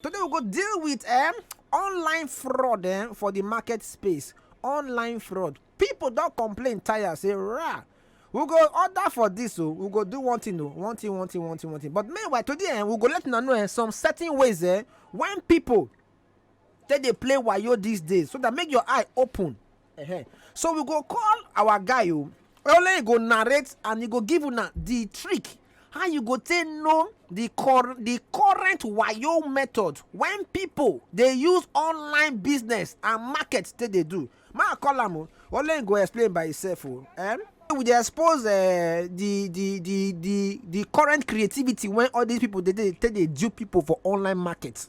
Today we go deal with um, online fraud um, for the market space. Online fraud. People don't complain tire say rah. We go order for this so oh. we go do one thing o oh. one thing one thing one thing one thing but meanwhile today eh, we go let una know eh, some certain ways eh, when people take dey play wayo these days so that make your eye open Uh-huh. So we go call our guy o. Oh. Only he go narrate and he go give una the trick how you go take know the cor the current wayo method when people dey use online business and market take dey do. Ma call am o. Oh. Only he go explain by himself o. Oh. Eh? we dey expose uh, the the the the the current creativity wey all these people dey dey take dey dupe people for online market.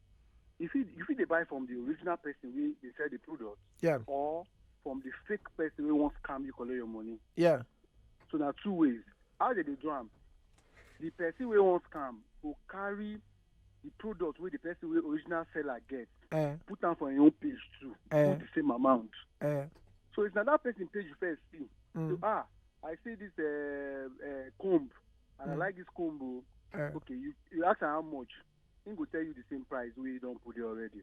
you fit you fit dey buy from the original person wey dey sell the product yeah or from the fake person wey wan scam you collect your money yeah so na two ways how they dey do am the person wey wan scam go carry the product wey the person wey original seller get eh put am for im own page too Eh. put the same amount eh so if na that person page you first see so mm, ah i see this uh, uh, comb and i Mm. like this comb o eh okay you you ask am how much he go tell you the same price wey he don put there already.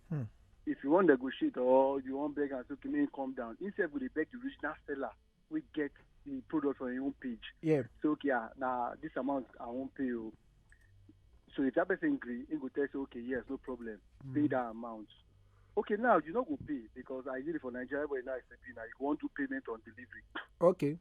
Hmm. If you wan negotiate or you wan beg am say okay make him come down, he sef go dey beg the original seller wey get the product on him own page. Yeah. Say okay ah na this amount I wan pay o. So if that person gree, he go tell you say okay yes no problem mm. pay that amount. Okay now you no go pay because I did it for Nigeria but now it's a pay now you wan do payment on delivery. Okay.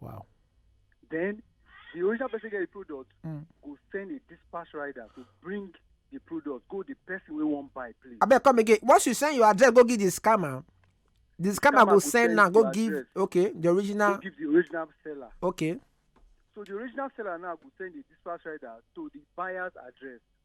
Wow. Then the original person get the product mm. go send a dispatch rider to bring the product go the person wey wan buy please. abeg come again once you send your address go give the scammer the scammer, scammer go send now go give address. okay the original. go give the original seller. okay. so the original seller now go send the dispatch rider to the buyer's address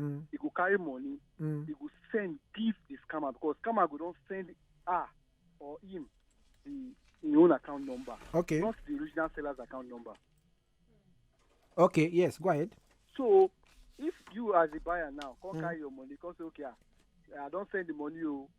Mm. He go carry money. Mm. He go send give the scammer because scammer go don send her or him the his own account number. Okay. Not the original seller's account number. Okay. Yes. Go ahead. So if you as a buyer now come mm. carry your money come say okay ah, I don send the money o oh,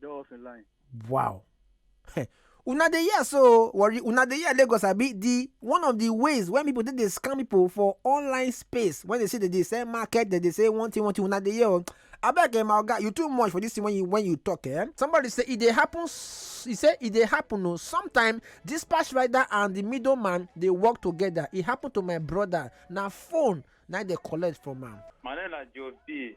Dey off in line. Wow. una dey hear so worry una dey hear lagos abi the one of the ways when people take dey scam people for online space when they say they dey sell market they dey say one thing one thing una dey hear o abeg eh my oga you too much for this thing when you when you talk eh somebody say e dey happen s- e say e dey happen o sometimes dispatch rider and the middle man dey work together e happen to my brother na phone na im dey collect from am. My name na Joe B.